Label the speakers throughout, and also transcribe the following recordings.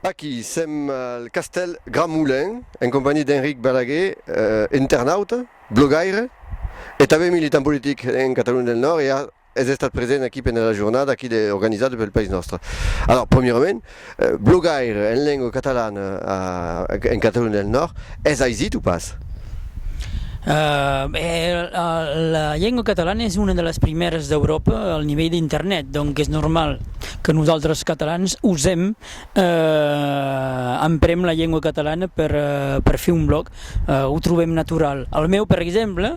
Speaker 1: Aquí sèm al castèl Grand Moulin en companhiá d'Enric Balaguer, internauta, blogaire e tanben militant politic en Catalunya del Nòrd e es estat present aquí pendent la jornada aquí organizada pel País Nòstre. Alòrs, premierament, Blogaire en lengua catalana en Catalonha del Nòrd, es aisit o pas? La lengua catalana es una de las primièras d'Euròpa al nivèl d'internet, donc es normal que nosautres catalans ausem, emprem la lengua catalana per fer un blòg, o trobem natural. Al meu, per exemple,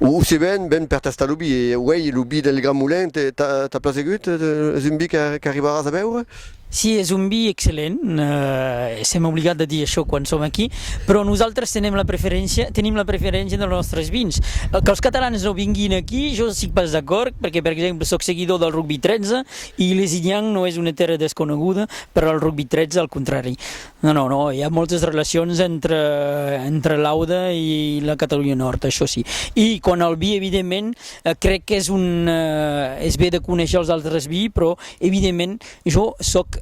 Speaker 1: O se ven, ven per tastar lo bi. E uèi, lo bi del Grand Moulin t'a plasegut? Es un bi qu'arribaràs a beure? Si, es un bi excellent. Sèm obligat de dir això quan som aquí. Però nosaltres tenim la preferéncia, tenim la preferéncia dels nòstres vins. Que'ls catalans no vinguin aquí, jo sic pas d'acòrd, perque, per exemple, sòc seguidor del Rugbi 13 e Lézignan no es una tèrra desconeguda per al Rugbi 13, al contrari. Non, non, non, i a moltes relacions entre, entre l'Aude i la Catalonha Nòrd, això sí. I quant al vi, evidentment, crec qu'es un, es be de conéisher els altres vi, però, evidentment, jo sòc,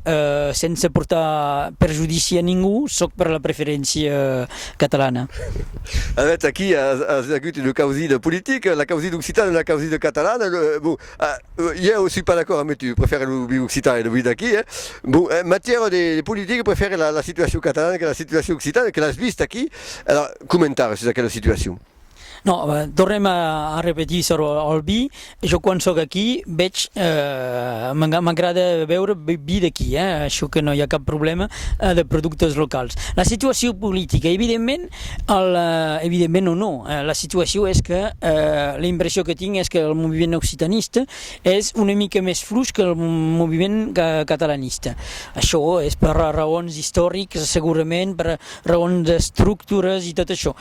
Speaker 1: sense portar perjudici a ningú, sòc per la preferéncia catalana. Avètz aquí, as agut una causi de politic, la causi d'Occitània e la causi de Catalana, bon. Iè aussi pas d'acòrd amé tu, prefère lo viu occitan e lo viu d'aquí eh. Bon en matièra de politica prefère la situacion catalana que la situacion occitana que l'as vist aquí alors comentar sus aquela situacion. Non tornem a repetir sur el vi, jo quan sóc aquí vètz m'agrada beure vi d'aquí eh, çò que non i a cap problèma de productes locals. La situacion politica evidentment Al, evidentment non, non. La situacion es que la impression que tinc es qu'el moviment occitaniste es una mica mès fluch que el moviment catalaniste. Açò es per raons istorics, segurament, per raons d'estructuras e tot açò.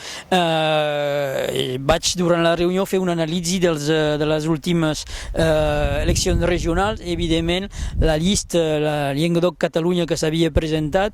Speaker 1: Vaig, durant la reünion, fer una analisi dels, de las ultimas eleccions regionals. Evidentment, la lista, la Llenguadoc-Catalonha, que s'avia presentat,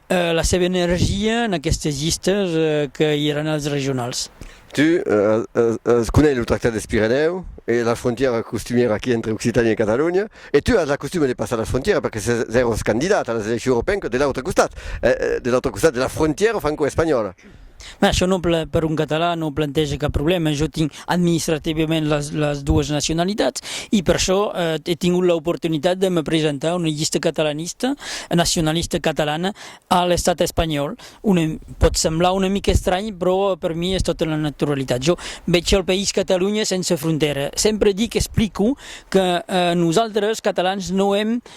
Speaker 1: La seva energia en aquestes llistes que i èran als regionals. Tu as conèis lo Tractat des Pirenèu e la frontièra costumièra qu'i a entre Occitània e Catalonha e tu as la costuma de passar la frontièra perque s'èros candidat a las eleccions europeenques de l'autre costat, de l'autre costat de la frontièra francoespanhòla. Mès això non pla, per un catalan non planteja cap problèma, jo tinc administrativament las las doas nacionalitats e per això è tingut l'oportunitat de me presentar a una llista catalanista nacionalista catalana a l'estat espanhòl, una pòt semblar una mica estranh però per mi es tota la naturalitat. Jo veig el país Catalunya sense frontera, sempre dic, explico que nosaltres catalans non èm